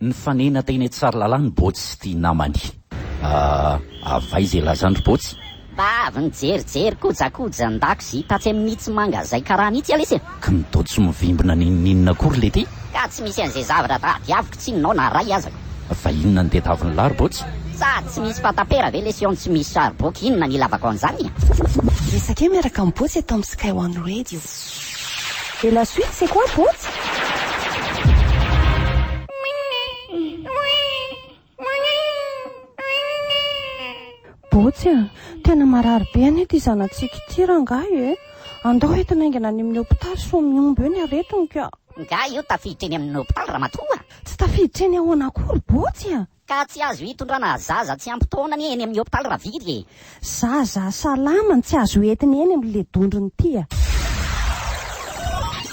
Nifanena teny an Tsarlalana i Botsy sy ity namany. Ah, avy aiza elazan dry Botsy? Mba avy nijerijery kojakoja an-dakozia tatsy amin itsy mangazay karana itsy lesy e! Ka ny Dotsy mivimbina n'inon'inona akory le ty? Ka tsy misy an'izay zavatra tadiaviko tsinonao na ray azako. Fa inona no tedavin lahy ry Botsy? Sa tsy misy fatapera ve lesy eo no tsy misy sary boky inona no ilavako an'izany e? Resakeo miaraka amin'i Botsy eto amin'ny Sky One Radio. Et la suite c'est quoi potsy? Botsy a! Tena marary be anie ity zanatsika ity rangahy e! Andao entina haingana any amin'ny hopitaly sao mihombo eo ny aretiny ka! Nga io tafiditra eny amin'ny hopitaly ramatoa? Tsy tafiditra eny ahoana akory botsy a! Ka tsy azo hitondrana zaza tsy ampy taona anie eny amin'ny hopitaly raviry e! Zaza salama no tsy azo entina eny amin'le dondrona ity a!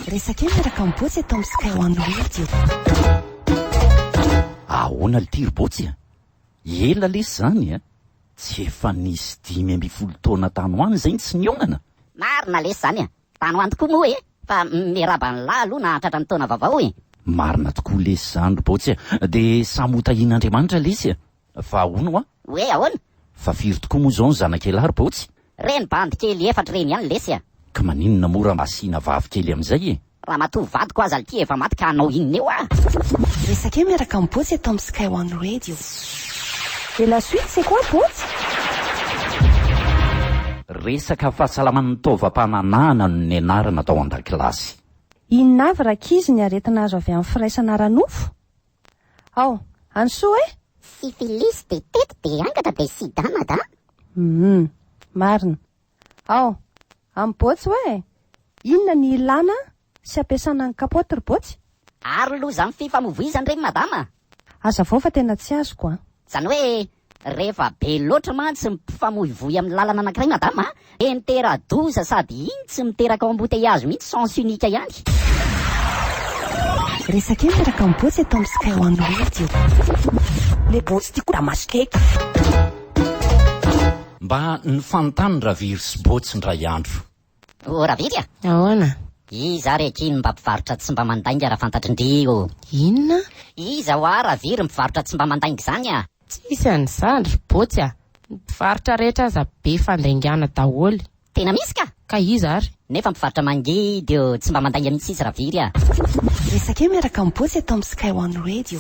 Resaka io miaraka am Botsy eto am Sky One Radio. Ahoana lty ry Botsy a! Ela lesy izany a! Tsy efa nisy dimy ambin'ny folo taona tany ho any izay no tsy nihaonana? Marina lesy izany a! Tano any tokoa moa e! Fa miarahaba anlah aloha nahatratra ny taona vaovao e! Marina tokoa lesy zany ry Botsy a! Dia samy ho tahian'Andriamanitra lesy e! Fa hono hoa? Hoe ahoana? Fa firy tokoa moa izao ny zanak'elah ry Botsy? Reny bandy kely efatra ireny ihany lesy a! Ka maninona moa raha mba asiana vavy kely amin'izay e! Ramatoa vadiko aza lty efa maty ka hanao inona eo ah! Resaka eo miaraka amin'i Botsy eto amin'ny Sky One Radio. Et la suite c'est quoi Botsy? Resaka fahasalaman'ny taovam-pananahana no nianarana tao an-dakilasy. Inona avy rankizy ny aretina azo avy amin'ny firaisana ara-nofo? Ao, any soa e! Syphilis dia tety dia angatra dia sida mada. Humm. Marina. Ao, amin'i Botsy hoe inona ny ilàna Tsy ampiasana ny capote ry botsy? Ary loza ny fifamovoizany re madama? Hazavao fa tena tsy azoko an! Zany hoe rehefa be loatra mantsy ny mpifamoivoy amin'ny lalana anankiray madama dia mitera-doza sady iny tsy miteraka embouteillages mihitsy sens unique ihany. Resaka io miaraka amin'ny botsy eto amin'ny sky one radio. Le botsy ty ko da masikeiky. Mba ny fanontany raviry sy botsy ndray andro. O Raviry a! Ahoana? Iza ary akia no mba mpivarotra tsy mba mandainga raha fantatrin-dry o? Inona? Iza ho'a Raviry mpivarotra tsy mba mandainga izany a? Tsisy an'izany ry Botsy a! Ny mpivarotra rehetra aza be fandaingana daholo. Tena misy ka! Ka iza ary? Nefa mpivarotra mangidy o! Tsy mba mandainga mihitsy izy Raviry a! Resaka eo miaraka amin'i Botsy eto amin'ny Sky One Radio.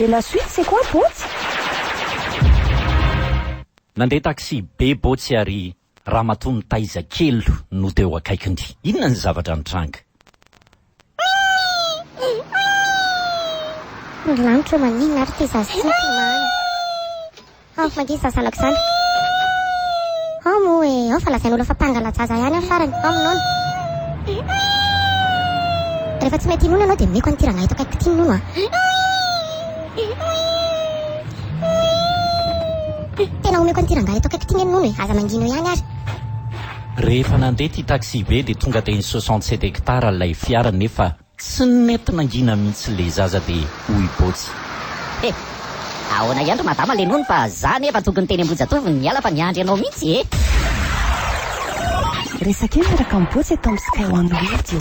Et la suite c'est quoi Botsy? Nandeha taxi be Botsy ary Ramatoa nitaiza kely no teo akaikiny. Inona ny zavatra nitranga? Ry lanitra ô maninona ary ity zaza ity no tomany? Ao, mangidy izany zanako izany. Ao moa e, ao fa lazain'olona fa mpangalan-jaza ihany aho farany. Ao minono. Rehefa tsy mety hinono ianao dia omeko an'ity rangahy eto akaikiko ity ny nono a. Tena omeko an'ity rangahy eto akaikiko ity ny an'i Nono e, aza mangina eo ihany ary. Rehefa nandeha ity taxi-be dia tonga teny soixante sept hectares ilay fiara nefa tsy nety nangina mihitsy ilay zaza dia hoy Botsy. He, ahoana ihany ry madama ilay Nono fa za anie efa tokony teny Ambohijatovo ny niala fa niandry anao mihitsy e! Resaka io miaraka amin'i Botsy eto amin'ny Sky One Radio.